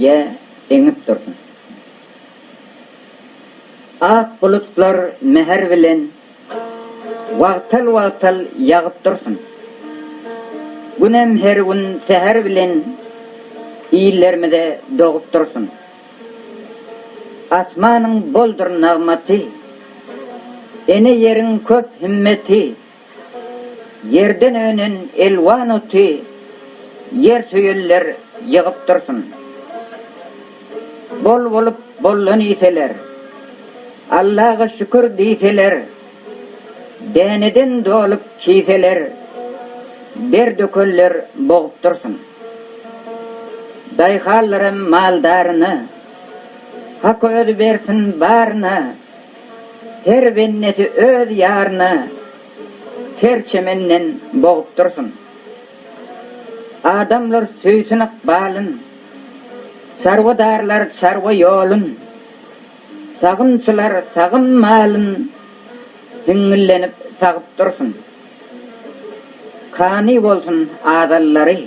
Ýe, eňip dursun. Ak bulutlar mähir bilen wagtal-wagtal ýagyp dursun. Günem her gün säher bilen illerimize dogup dursun. Asmanyň boldur nagmaty, ene ýeriň köp himmeti. Ýerden önen elwan oty ýersöýerler ýygyp dursun. Bol bolup bollan iýseler, Allaga şükür diýseler, Däneden dolup kiýseler, Der dökenler bogup dursun. Daýhanlaram maldaryna, Hak özi bersin baryna. Her bennesi öz ýaryna ter çemenden bogup dursun. Adamlar söýsün ykbalyn, çarwadarlar çarwa ýolun, sagymçylar sagym malyn hiňňillenip sagyp dursun. Kani bolsun azallary.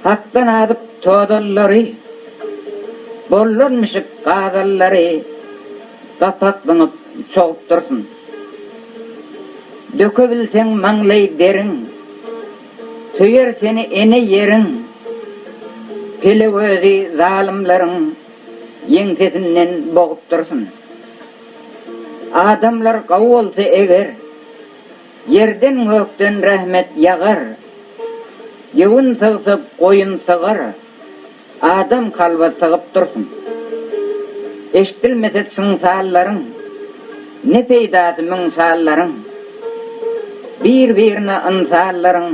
Hakdan azyp tozallary. Bollan mişik gazallary Gapak zyňyp çogup dursun. Dökebilseň maňlaý deriň. Söýer seni ene ýeriň. Pele gözi zalymlaryň Ýeňsesinden bogup dursun. Adamlar gawy bolsa eger, Ýerden-gökden rahmet ýagar. Ýewin sygsa goýun sygar, Adam kalba sygyp dursun. Eşdilmese çynsallaryň, Ne peýdasy müň sallaryň. Bir-birine ynsallaryň,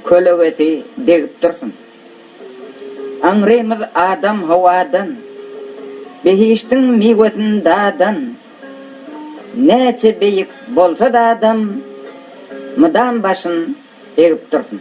Kölegesi degip dursun. Aňrymyz Adam Hawadan, behiştiň miwesin dadan. Näçe beýik bolsad adam, mydam başyn egip dursun.